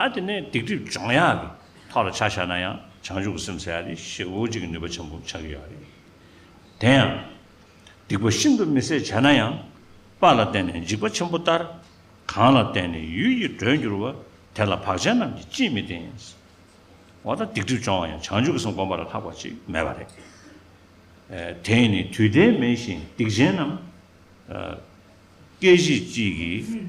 ཨ་དེ་ནས་སྡིག་སྒྲིབ་སྦྱོང་ཡག་གི་ཐོག་ལ་ཆ་བཞག་ན་ཡང་བྱང་ཆུབ་ཀྱི་སེམས་སེལ་ཡག་དེ་ཤེས་འོ་གཅིག་གི་ནུས་པ་ཆེན་པོ་ཆགས་ཀྱི་ཡོད་རེད། དེ་ཡང། སྡིག་པ་ཤིན་ཏུ་མི་བསད་བྱས་ན་ཡང། དཔའ་ལ་བརྟེན་ནས་འཇིགས་པ་ཆེན་པོ་ལྟར། གང་ལ་བརྟེན་ནས་ཡུལ་གྱི་འགྲོས་འགྱུར་བ། དེ་ལ་བག་ཅན་རྣམས་ཀྱིས་ཅིས་མི་བརྟེན། འོ་ད་སྡིག་སྒྲིབ་སྦྱོང་བ་ཡང་བྱང་ཆུབ་ཀྱི་སེམས་སྒོམ་པ་ལ་ལྷག་པ་ཅིག་མེད་པ་རེད། དེས་ནི་དུས་མཐའི་མེ་བཞིན་སྡིག་ཅན་རྣམས། སྐད་ཅིག་གཅིག་གིས།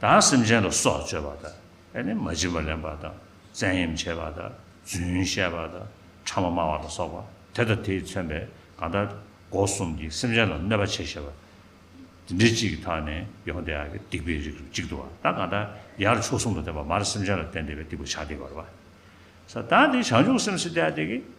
དང་སེམས་ཅན་ལ་སྲོག་གཅོད་པ་དང། ནི་མ་བྱིན་པ་ལེན་པ་དང། བཙན་གཡེམ་བྱེད་པ་དང། རྫུན་བཤད་པ་དང། ཕྲ་མོ་སྨྲ་བ་ལ་སོགས་པ་དེ་དང་དེས་མཚོན་པའི་གང་ཟག་སྒོ་གསུམ་གྱིས་སེམས་ཅན་ལ་གནོད་པ་བྱེད་ཤེས་པ། འདི་འདྲི་གཅིག་གི་ཐག་ནས་ཡོངས་བདེ་བ་སྟེགས་པའི་རིགས་རུ་གཅིག་ཏུ་བ་དང་གང་ཟག་ཡར་ཕྱོགས་གསུམ་དུ་བསྟན་པ་མར་སེམས་ཅན་ལ་བསྟན་བདེ་བའི་སྟེགས་བུ་བྱ་སྟེ་བར་བ། ས་དང་དེ་བྱང་ཆུབ་སེམས་སུ་བལྟ་སྟེ།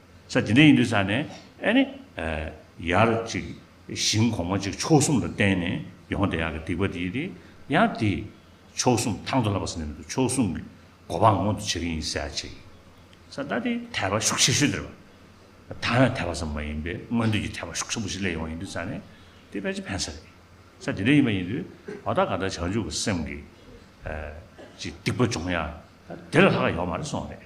ས་དེ་འདྲ་ཡིན་དུས་ས་ནས་ཨེ་ནི། ཡར་ཅིག་ཞིང་གོང་མ་གཅིག་ཕྱོགས་གསུམ་ལ་བསྟན་ནས་ཡོངས་དེ་ཡང་གི་སྡིག་པ་དེའི་དེ་ཡང་དེ། ཕྱོགས་གསུམ་ཐང་དུ་ལབ་པ་ས་ནས་མི་འདུག་ཕྱོགས་གསུམ་གི་གོ་འཕང་མངོན་དུ་བྱེད་ཀྱི་ཡིན་ཟེར་ཡ་བྱས། ས་ད་དེ་དད་པ་ཤུགས་ཆེ་ཤོས་དེ་རེད། ད་ཡང་དད་པ་ཙམ་མ་ཡིན་པས་མངོན་འདོད་ཀྱི་དད་པ་ཤུགས་ཆེན་པོ་ཞིག་སླེབས་ཡོང་ཡིན་དུས་ས་ནས་དེ་ཕལ་ཆེར་ཕན་ས་རེད། ས་དེ་འདྲ་ཡིན་པ་ཡིན་དུས་བ་ད་ག་ད་བྱང་ཆུབ་ཀྱི་སེམས་ཀྱི། ཅིག་སྡིག་པ་སྦྱོང་ཡ་ད་དེ་ལ་ལྷག་ཡོད་མ་རེད་སོང་རེད།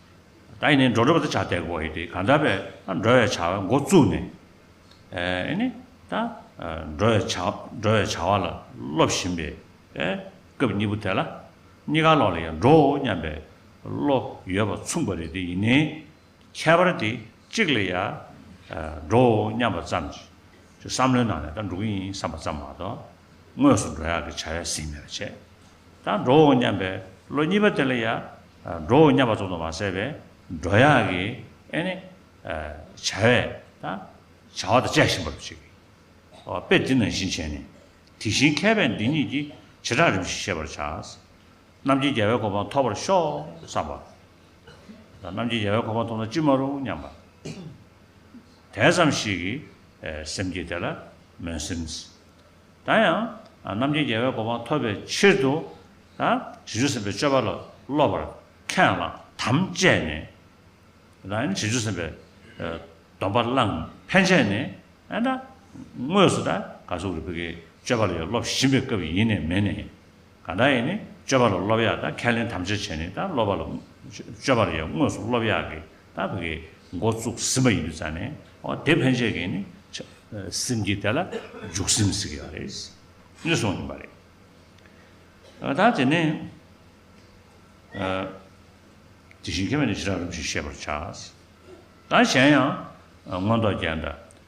ད་ཡིན་ནའི་འགྲོ་འགྲོ་བ་ད་ཆ་དད་གོ་ཡི་དེ་གང་འདྲ་བས་ད་འགྲོ་བའི་བྱ་བའི་འགོ་བཙུགས་ནས་ཨེ་ནི་ད་འགྲོ་བའི་བྱ་འགྲོ་བའི་བྱ་བ་ལ་སློབ་བཞིན་པའི་སྐབས་གཉིས་པོ་དེ་ལ་གཉིས་ཀ་ལོག་ལ་ཡང་འགྲོའོ་སྙམ་པའི་བློ་ཡོད་པ་མཚུངས་པ་རེད་དེ་ཡིན་ནའི་ཁྱད་པར་དེ་གཅིག་ལ་ཡང་འགྲོའོ་སྙམ་པ་ཙམ་གྱིས་བསམ་བློའི་ནང་ནས་ད་འགྲོ་གི་ཡིན་བསམ་པ་ཙམ་མ་གཏོགས་དངོས་སུ་འགྲོ་ཡག་གི་བྱ་བས་ཟིན་མེད་པ་བྱས་ད་འགྲོའོ་སྙམ་པའི་བློ་གཉིས་པ་དེ་ལ་ཡང། འགྲོའོ་སྙམ་པ་རྫོགས་དང་མ་ཟད་པའི་འགྲོ་ཡང་གི། ཨེ་ནི། བྱ་བས་དང། བྱ་བ་དང་བཅས་ཤིང་པར་བྱེད་ཀྱི། དཔེ་འདི་ནང་བཞིན་བྱས་ནས། དེ་བཞིན་མཁས་པས་འདི་ཉིད་ཀྱི། བྱེ་བྲག་རིམ་བཞིན་ཤེས་པར་བྱ། རྣམ་རྒྱལ་རྒྱལ་བའི་གོ་འཕང་ཐོབ་པར་ཤོག། བསམ་པ། རྣམ་རྒྱལ་རྒྱལ་བའི་གོ་འཕང་ཐོབ་ན་ཅི་མ་རུང་སྙམ་པ། དེས་སམ་ཞིག། སེམས་བསྐྱེད་དེ་ལ་མོས་སེམས། ད་ཡང་རྣམ་མཁྱེན་རྒྱལ་བའི་གོ་འཕང་ཐོབ་པའི་ཕྱིར་དུ། དྲི་ཆུ་སེམས་པའི་སྤྱོད་པ་ལ་སློབ་པར་མཁས་ལ་དམ་བཅས་ནས། དྲི་ཆུ་སེམས་པའི་སྡོམ་པ་བླངས་ཕན་ཆད་ནས། དངོས་སུ་ཀ་སུ་རི་པི་ཀའི་སྤྱོད་པ་ལ་ཡང་སློབ་བཞིན་པའི་སྐབས་ཡིན་ནི་མིན་ནི། གང་དག་ཡིན་ནི་སྤྱོད་པ་ལ་སློབ་ཡག་དང་ཁས་ལེན་དམ་བཅའ་བྱས་ནས་དང་སློབ་པ་ལ། སྤྱོད་པ་ལ་ཡང་དངོས་སུ་སློབ་ཡག་གི་དང་བི་གའི་འགོ་བཙུགས་ཟིན་པ་ཡིན་དུ་བྱ་ནས་འོ་དེ་ཕན་ཆད་ཀྱིས་ནི་ཆ། སེམས་ཀྱིས་དེ་ལ་འཇུག་སེམས་ཟེར་གྱི་བ་རེད། ནི་སོང་ཡིན་པ་རེད། ཨ་ད་དེ་ནི། ཨ། དེ་བཞིན་ཁས་མེད་ནི་ཞི་རང་རིམ་བཞིན་ཤེས་པར་བྱ། དང་གཞན་ཡང། མངོན་རྟོགས་རྒྱན་དང